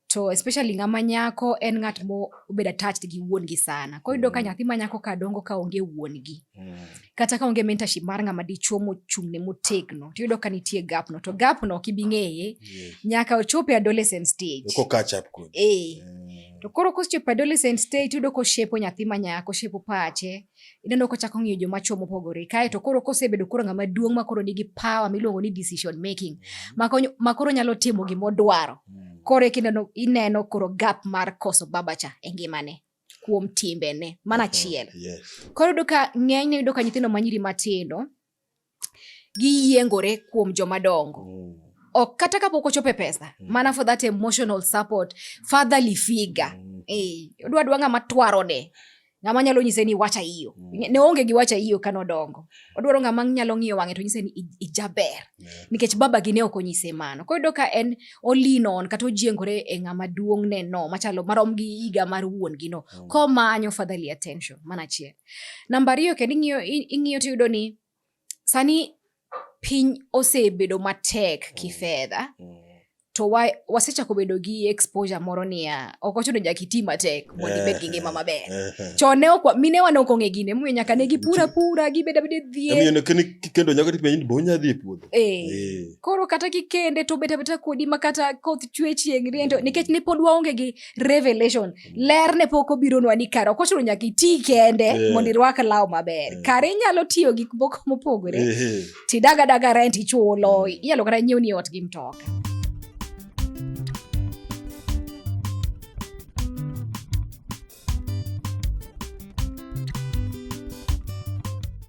to especially ng'ama nyako en ng'at mobedo attached gi wuongi sana koro yudo ka mm. nyathi ma nyako ka dongo ka onge wuongi mm. kata ka onge mentorship mar ng'ama dichuo mochung'ne motegno to yudo ka nitie gapno to gapno ok ibi ng'eye nyaka ochope adolescent stage e to koro kosechopo adolescent stage yudo koshepo nyathi ma nyako oshepo pache ineno kochako ng'iyo joma chwo mopogore kae to koro kosebedo koro ng'ama duong' ma koro nigi power miluongo ni decision making mm. ma koro nyalo timo gima odwaro mm. koro kineno ineno koro gap mar koso babacha e ngimane kuom timbene mana achiel koro yudo ka ng'enyne yudo ka nyithindo manyiri matindo giyiengore kuom joma dongo mm. ok kata kapok ochopo e pesa mm. mana for that emotional support fatherly figure mm. eh, odwa dwa ng'ama twarone ng'ama nyalo nyise ni wacha iyo mm. ne onge gi wacha iyo kane odongo odwaro ng'ama nyalo ng'iyo wang'e to nyise ni ijaber yeah. nikech baba gi ne ok onyise mano koro yudo ka en olinon kata ojiengore e ng'ama duong'ne no machalo marom gi higa mar wuon gi no mm. komanyo fatherly attention mana achiel Namba ariyo kendo ing'iyo ing'iyo tiyudo ni sani piny osebedo matek mm. kifedha mm. to wa, wasechako bedo gi exposure moro niya ok ochuno nyaka iti matek mondo ibed gi ngima maber eh, eh. chon ne ok minewa ne ok ong'e gine momiyo nyaka ne gipura pura gibed abeda e dhier kendo nyaka tipenj ni bonya dhi e puodho eh. eh. koro kata kikende to bet abeta kodi ma kata koth chwe chieng' riento mm. nikech ne pod waonge gi revelation ler ne pok obironwa ni kare ok ochuno nyaka iti kende yeah. mondo irwak law maber yeah. kare inyalo tiyo gik moko mopogore yeah. tidagadaga rent ichulo yeah. inyalo kata nyiew ni ot gi mtoka